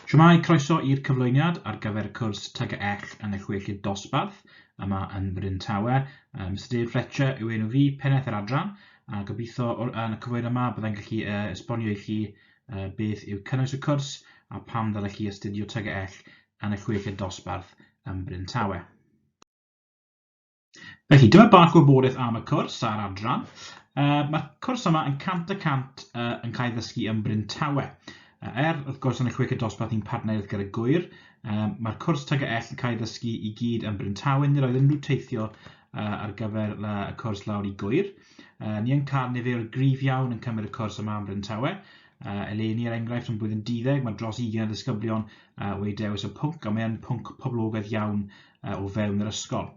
Shwmae, croeso i'r cyflwyniad ar gyfer y cwrs Tug a Ech yn y Chweched Dosbarth yma yn Bryn Tawe. Uh, Mr Dave Fletcher yw enw fi, pennaeth yr adran, a gobeithio yn y cyflwyniad yma byddai'n gallu uh, esbonio i chi uh, beth yw cynnwys y cwrs a pam ddylech chi astudio Tug a Ech yn y Chweched Dosbarth yn Bryn Tawe. Felly, dyma bach o wybodaeth am y cwrs a'r adran. Uh, Mae'r cwrs yma yn cant y cant uh, yn cael ddysgu ym Bryn Tawe. Uh, er, wrth gwrs, yn y chwech y dosbarth i'n partneriaeth gyda Gwyr, uh, mae'r cwrs tag y ell yn cael ddysgu i gyd ym Bryn Tawe. Nid oedd unrhyw teithio uh, ar gyfer uh, y cwrs lawr i Gwyr. Uh, ni yn cael nifer grif iawn yn cymryd y cwrs yma ym Bryn Tawe. Uh, eleni, er enghraifft, yn blwyddyn 12, mae dros 20 o ddisgyblion uh, wedi dewis y pwnc, a mae'n pwnc poblogaeth iawn uh, o fewn yr ysgol.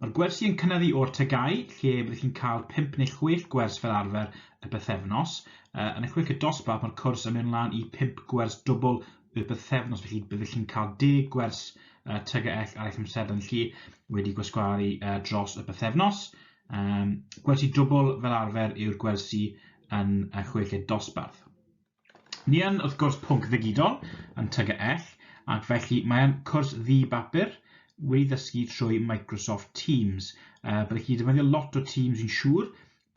Mae'r gwersi yn cynyddu o'r tygau, lle byddwch chi'n cael 5 neu 6 gwers fel arfer y bythefnos. Uh, yn y chwech y dosbarth, mae'r cwrs yn mynd lan i 5 gwers dwbl y bythefnos, felly byddwch chi'n cael 10 gwers uh, tygau ar eich amserlen chi wedi gwasgaru uh, dros y bythefnos. Um, gwersi dwbl fel arfer yw'r gwersi yn y chweched dosbarth. Ni yn, wrth gwrs, pwnc ddigidol yn TGEll, ac felly mae'n cwrs ddi-bapur wedi ddysgu trwy Microsoft Teams. Uh, byddech chi defnyddio lot o Teams yn siŵr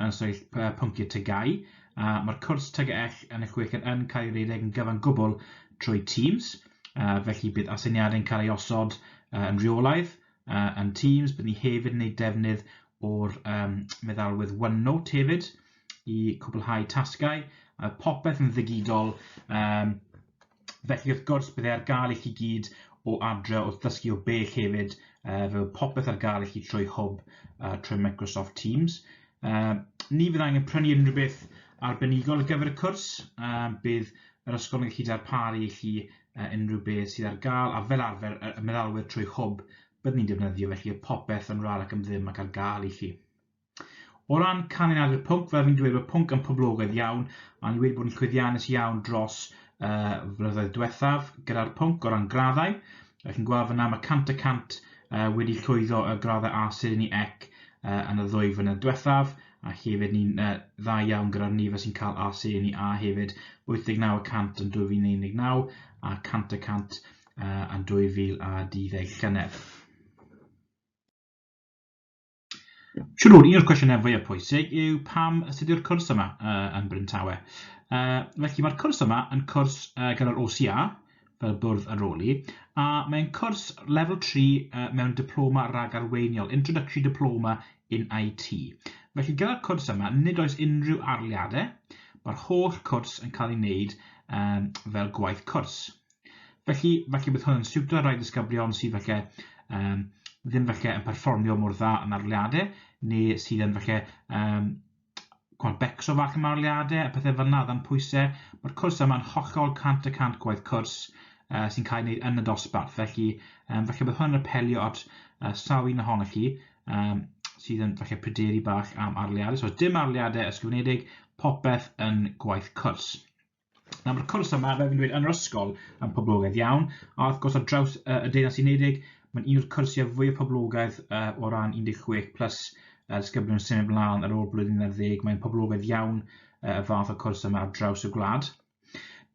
yn sefyll uh, pynciau tygau. Uh, Mae'r cwrs TGEll yn eich chweched yn cael ei redeg yn gyfan gwbl trwy Teams, uh, felly bydd aseiniadau'n cael ei osod uh, yn rheolaidd uh, yn Teams. Bydd ni hefyd yn ei defnydd o'r um, meddalwedd OneNote hefyd, i cwblhau tasgau, mae popeth yn ddigidol, um, felly wrth gwrs byddai ar gael i chi gyd o adre wrth ddysgu o bell hefyd, uh, fe oedd popeth ar gael i chi trwy hwb uh, trwy Microsoft Teams. Uh, ni fydd angen prynu unrhyw beth arbenigol ar gyfer y cwrs, uh, bydd yr ysgol yn gallu darparu i chi uh, unrhyw beth sydd ar gael, a fel arfer y meddalwedd trwy hwb byddwn ni'n defnyddio, felly y popeth yn rar ac yn ddim ac ar gael i chi. O ran canlyniadau'r pwnc, fel fi'n dweud, mae pwnc yn poblogaidd iawn, a ni wedi bod yn llwyddiannus iawn dros uh, flynyddoedd diwethaf gyda'r pwnc o ran graddau. Ych chi'n gweld fyna mae 100 y 100 uh, wedi llwyddo y graddau A sydd yn ei ec uh, yn y ddwy flynedd diwethaf, a hefyd ni'n uh, dda iawn gyda'r nifer sy'n cael A sydd yn ei A hefyd, 89 y 100 yn 2019 a 100 y 100 uh, yn 2012 llynedd. Siwr, un o'r cwestiynau fwyaf pwysig yw pam sut yw'r cwrs yma uh, yn Bryn Tawe. Uh, felly mae'r cwrs yma yn cwrs uh, gyda'r OCA, fel bwrdd ar ôl i, a mae'n cwrs level 3 uh, mewn diploma rhag arweiniol, Introductory Diploma in IT. Felly gyda'r cwrs yma, nid oes unrhyw arliadau, mae'r holl cwrs yn cael ei wneud um, fel gwaith cwrs. Felly, felly bydd hwn yn siwtio rhai disgyblion sydd felly um, ddim felly yn perfformio mor dda yn arliadau, neu sydd yn felly um, cwrdd becso fach yn arliadau, a pethau fel yna dan pwysau. Mae'r cwrs yma'n hollol 100 y 100 gwaith cwrs uh, sy'n cael ei wneud yn y dosbarth. Felly, um, felly bydd hwn yn apelio at uh, sawl un ohonoch chi um, sydd yn felly pryderu bach am arliadau. So dim arliadau ysgrifenedig, popeth yn gwaith cwrs. Nawr mae'r cwrs yma, fel fi'n dweud, yn yr ysgol yn poblogaidd iawn, a wrth gwrs ar draws uh, y Deyrnas Unedig, mae'n un o'r cyrsiau fwy o poblogaidd uh, o ran 16 plus uh, ysgyblion yn symud ymlaen ar ôl blwyddyn 10, mae'n poblogaidd iawn uh, y fath o cwrs yma ar draws y gwlad.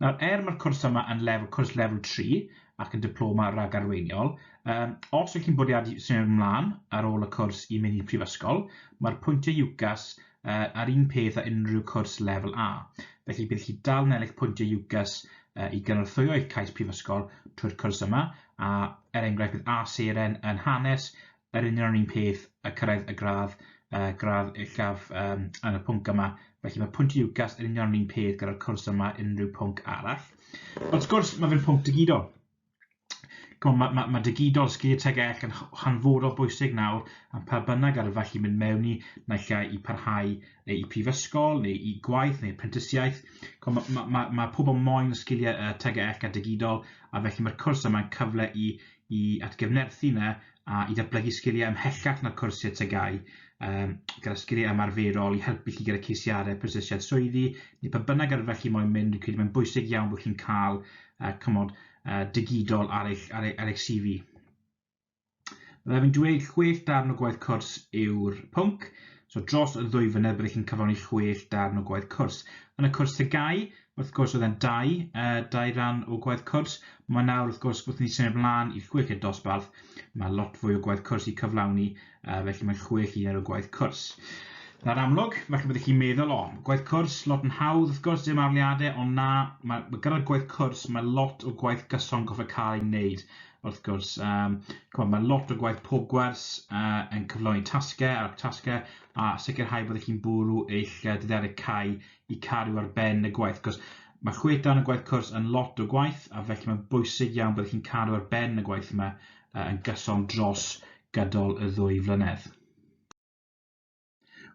Nawr, er mae'r cwrs yma yn lefel, cwrs lefel 3 ac yn diploma rhag arweiniol, um, os ydych chi'n bwriadu symud ymlaen ar ôl y cwrs i mynd i prifysgol, mae'r pwyntiau UCAS uh, a'r un peth â unrhyw cwrs lefel A. Felly bydd chi dal yn ennill pwyntiau UCAS uh, i gynorthwyo eich cais prifysgol trwy'r cwrs yma, a er enghraifft bydd A seren yn hanes yr union yr un peth a cyrraedd y gradd, uh, gradd uchaf um, yn y pwnc yma. Felly mae pwyntiau UCAS yn union yr un peth gyda'r cwrs yma unrhyw pwnc arall. Wrth gwrs, mae fe'n pwnc digidol. Ch'mo' ma' ma' ma' digidol sgilie tegell yn h- hanfodol bwysig nawr a pha bynnag ar y fath i mynd mewn i naill ai i parhau yy i prifysgol neu i gwaith neu prentisiaeth ch'mo' ma' ma' ma' ma' pobol moyn y sgilie yy tegell a digidol a felly ma'r cwrs yma'n cyfle i i atgyfnerthu 'na a i ddatblygu sgiliau ymhellach na'r cwrs i'r tygau, um, gyda sgiliau ymarferol i helpu chi gyda ceisiadau prosiesiad swyddi, neu pa bynnag arfer chi moyn mynd, dwi'n credu mae'n bwysig iawn bod chi'n cael uh, cymod uh, digidol ar eich, ar eich, ar eich CV. Fe fi'n dweud chwech darn o gwaith cwrs yw'r pwnc, so dros y ddwy fynedd byddwch chi'n cyflawni chwech darn o gwaith cwrs. Yn y cwrs tygau, wrth gwrs oedd e'n dau, uh, dau ran o gwaith cwrs. Mae nawr wrth gwrs wrth ni symud ymlaen i chwech i'r dosbarth, mae lot fwy o gwaith cwrs i cyflawni, uh, felly mae chwech i ar y gwaith cwrs. Na'r amlwg, felly byddwch chi'n meddwl, o, gwaith cwrs, lot yn hawdd, wrth gwrs, dim arliadau, ond na, mae, mae gyda'r gwaith cwrs, mae lot o gwaith gyson goffa cael ei wneud, wrth gwrs. Um, on, mae lot o gwaith pob gwers uh, yn cyflawni tasgau ar tasgau a sicrhau byddwch chi'n bwrw eich dyddiadau cau i cario ar ben y gwaith, cos mae chwe dan y gwaith cwrs yn lot o gwaith, a felly mae'n bwysig iawn bod chi'n cario ar ben y gwaith yma uh, yn gyson dros gydol y ddwy flynedd.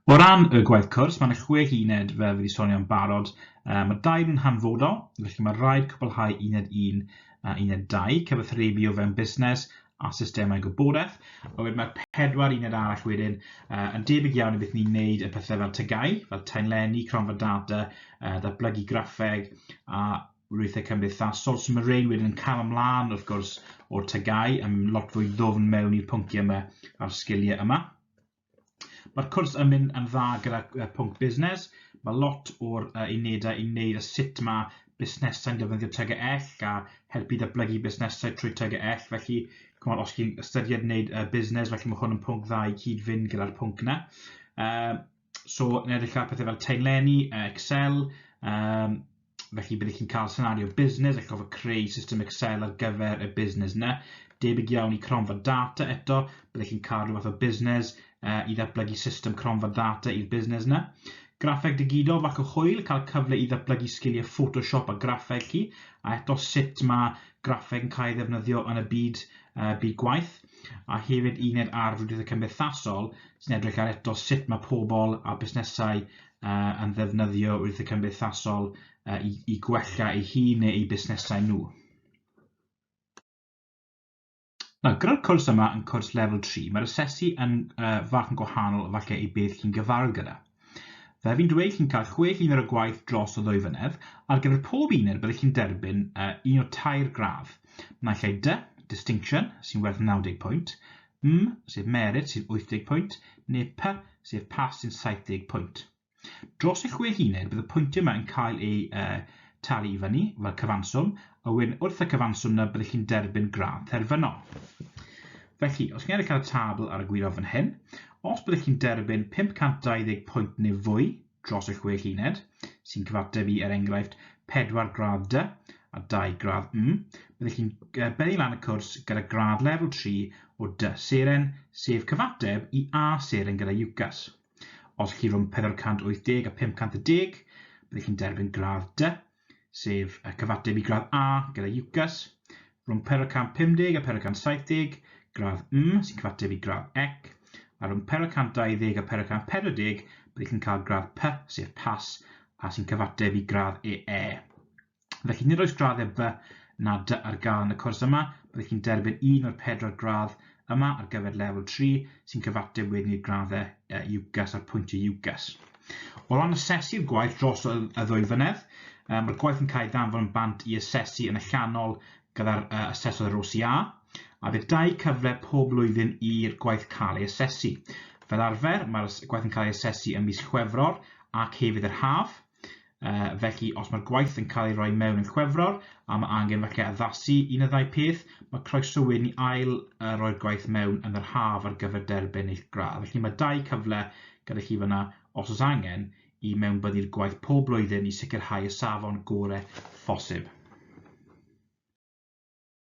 O ran y gwaith cwrs, mae'n chwe uned fel fi wedi sonio'n barod. Uh, mae dau yn hanfodol, felly mae rhaid cwblhau uned un a uned dau, cyfathrebu o fewn busnes a systemau gwybodaeth. A wedyn mae'r pedwar uned arall wedyn uh, yn debyg iawn i beth ni'n neud y pethau fel tygau, fel taenlenni, cronfa data, uh, datblygu graffeg a rwythau cymdeithasol. So mae rhain wedyn yn cael ymlaen wrth gwrs o'r tygau yn lot fwy ddofn mewn i'r pynciau yma a'r sgiliau yma. Mae'r cwrs yn mynd yn dda gyda uh, pwnc busnes. Mae lot o'r uh, unedau yn wneud a sut mae busnesau'n defnyddio TGL a helpu datblygu busnesau trwy TGL. Felly, cymod, os chi'n ystyried wneud uh, busnes, felly mae hwn yn pwnc dda i cyd-fynd gyda'r pwnc yna. Uh, so, yn edrych ar pethau fel taenlenni, uh, Excel, um, felly byddwch chi'n cael senario busnes ac gofod creu system Excel ar gyfer y busnes yna. Debyg iawn i cronfa data eto, byddwch chi'n cael rhywbeth o busnes uh, i ddatblygu system cronfa data i'r busnes yna. Graffeg digidol fac o hwyl, cael cyfle i ddatblygu sgiliau Photoshop a graffeg chi, a eto sut mae graffeg yn cael ei ddefnyddio yn y byd, uh, byd gwaith, a hefyd uned ar frwydriaethau cymdeithasol sy'n edrych ar eto sut mae pobl a busnesau uh, yn ddefnyddio wrth y cymdeithasol uh, i, i gwella ei hun neu ei busnesau nhw. Nawr, gyda'r cwrs yma yn cwrs level 3, mae'r asesu yn uh, fach yn gwahanol falle i beth chi'n gyfarwydd gyda. Fe fi'n dweud chi'n cael chwe llun ar y gwaith dros o ddwy fynedd, ar gyfer pob uned byddwch chi'n derbyn uh, un o tair gradd. Naill ai dy, distinction, sy'n werth 90 pwynt, M, sef merit, sy'n 80 pwynt, neu P, sef pass, sy'n 70 pwynt. Dros y chwe huned, bydd y pwyntiau yma yn cael eu uh, talu i fyny fel cyfanswm, a wedyn wrth y cyfanswm yna byddwch chi'n derbyn gradd terfynol. Felly, os chi'n edrych ar y tabl ar y gwirionedd fan hyn, os byddwch chi'n derbyn 520 pwynt neu fwy, dros y chwech uned, sy'n cyfateb i, er enghraifft, pedwar gradd dy a dau gradd M, byddech chi'n beddi lan y cwrs gyda gradd lefel 3 o dy seren, sef cyfateb i A seren gyda UCAS. Os chi rhwng 480 a 510, byddech chi'n derbyn gradd dy sef y cyfateb i gradd A gyda UCAS, rhwng peryl 150 a peryl 170, gradd M sy'n cyfateb i gradd Ec, a rhwng peryl 120 a peryl 140 byddwch yn cael gradd P sef Pas a sy'n cyfateb i gradd EE. Felly nid oes graddau B na D ar gael yn y cwrs yma, byddwch chi'n derbyn un o'r pedwar gradd yma ar gyfer lefel 3 sy'n cyfateb wedyn i'r graddau uh, UCAS a'r pwyntiau UCAS. O ran asesu'r gwaith dros y ddwy flynedd, um, mae'r gwaith yn cael ei ddanfod yn bant i asesu yn y llanol gyda'r uh, asesodd yr OCA, a bydd dau cyfle pob blwyddyn i'r gwaith cael ei asesu. Fel arfer, mae'r gwaith yn cael ei asesu ym mis Chwefror ac hefyd yr haf, Uh, felly, os mae'r gwaith yn cael ei roi mewn yn chwefror, a mae angen felly addasu un y ddau peth, mae croesywyd ni ail uh, roi'r gwaith mewn yn yr haf ar gyfer derbyn eich gradd. Felly mae dau cyfle gyda chi fyna, os oes angen, i mewnbyddu'r gwaith pob blwyddyn i sicrhau y safon gore phosib.